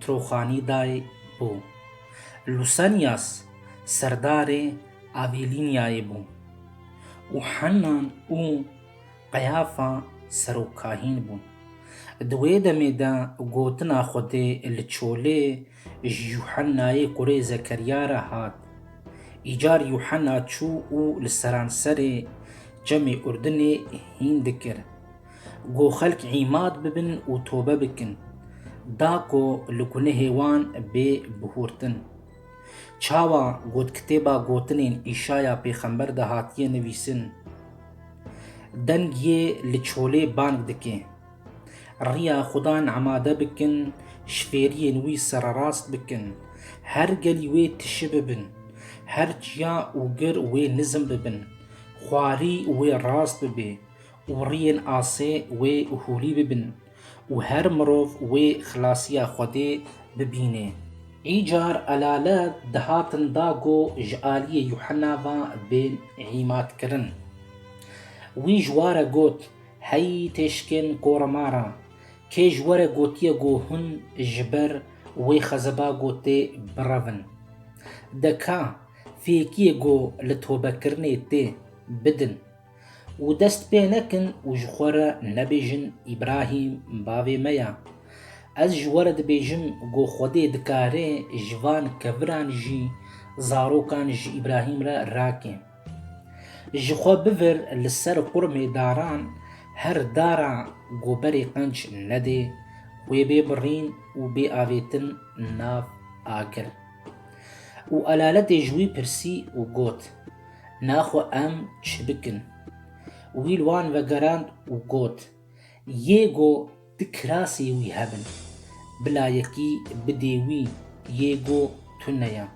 Troxanî day bû. Lusanias serdarê Avîlînyayê bû û Hennan û Qeyafa serokkahîn bûn. Di wê demê de gotina Xwedê li çolê ji Yuhennayê kurê Zekerya re hat. Îcar Yuhenna çû û li seranserê Çemê Urdinê hîn dikir. Ku xelk îmad bibin û tobe bikin. Da ku li gunehê wan bê bihurtin. Çawa ku di kitêba gotinên Îşaya pêxember de hatiye nivîsin, Deng yê li çolê bang dike. Riya Xudan emade bikin, ji fêriyên wî sererast bikin. Her gelî wê tişi bibin. Her çiya û gir wê nizm bibin. Xwarî wê rast bibe. û riyên asê wê hûrî bibin û her mirov wê xilasiya Xwedê bibînê. Îcar elalet dihatin da go ji aliyê Yuhena ve bên îmadkirin. Wî ji ware got, Hey têşkên koremara, kê ji were gotiye go hûn ji ber wê xezeba go tê birevin? De ka, fêkiyê go li tobekirinê tê, bidin. Û dest pê nekin û ji xwe re nebêjin Îbrahîm bavê me ya. Ez ji we re dibêjim ku Xwedê dikare ji van keviran jî zarokan ji Îbrahîm re rake. Ji xwe bivir li ser qurmê daran her dara ku berê qenc nedê wê bê birîn û bê avêtin nav agir. Û elaletê ji wî pirsî û got. Na xwe em çi bikin? Wî li wan vegerand û got, Yê go du kirasê wî hebin, bila yekî bidê wî, yê go tune ya.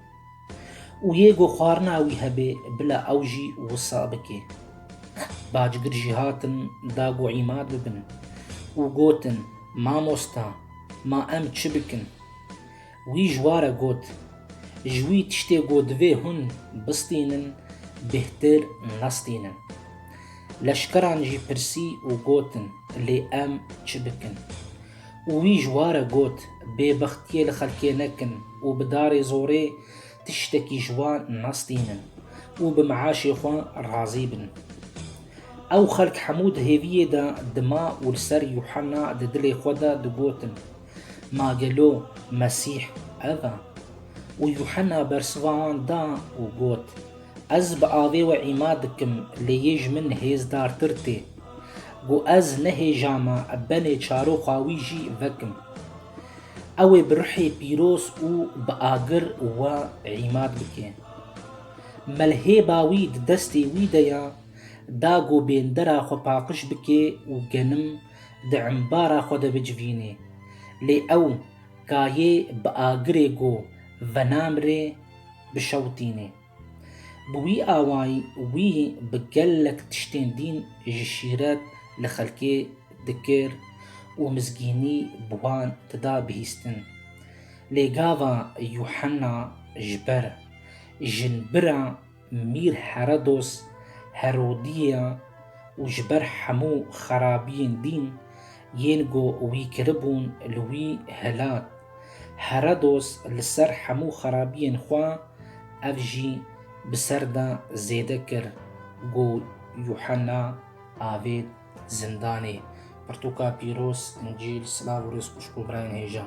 Û yê go xwarina wî hebê, bila ew jî wisa bike. Bacgir jî hatin da go îmad bibin û gotin, Mamosta, ma em çi bikin? Wî ji wa re got, Ji wî tiştê ku divê hûn bistînin bêhtir nastînin. Leşkeran jî pirsî û gotin, Lê em çi bikin? Û wî ji wa re got, Bêbextiyê li xelkê nekin û bi darê zorê tiştekî ji wan nastînin û bi meaşê xwe razî bin. Ew xelk hemû di hêviyê de dima û li ser Yuhanna di dilê xwe de digotin, Ma gelo Mesîh ev e? Û Yuhena bersiva wan da û got, Ez bi avê we îma dikim lê yê ji min hêzdartir tê. Ku ez nehêjama benê çaroxa wî jî vekim. Ew ê bi ruhê pîroz û bi agir we îma bike. Melhêba wî di destê wî de ye, da ku bêndera xwe paqij bike û genim di embara xwe de bicivînê. Lê ew kayê bi agirê ku venam rê bişewitînê. Bi wî awayî wî bi gelek tiştên dîn ji şîret li xelkê dikir û mizgînî bi wan dida bihîstin. Lê gava Yuhenna ji ber jinbira Mîr Herodos Herodîya û ji ber hemû xerabiyên dîn yên ku wî kiribûn li wî hilat. Herodos li ser hemû xerabiyên xwe ev jî bi ser de zêde kir ku Yuhanna avêt zindanê. Pirtûka pîroz, Încîl, silav û rêzkuşk bo birayên hêja.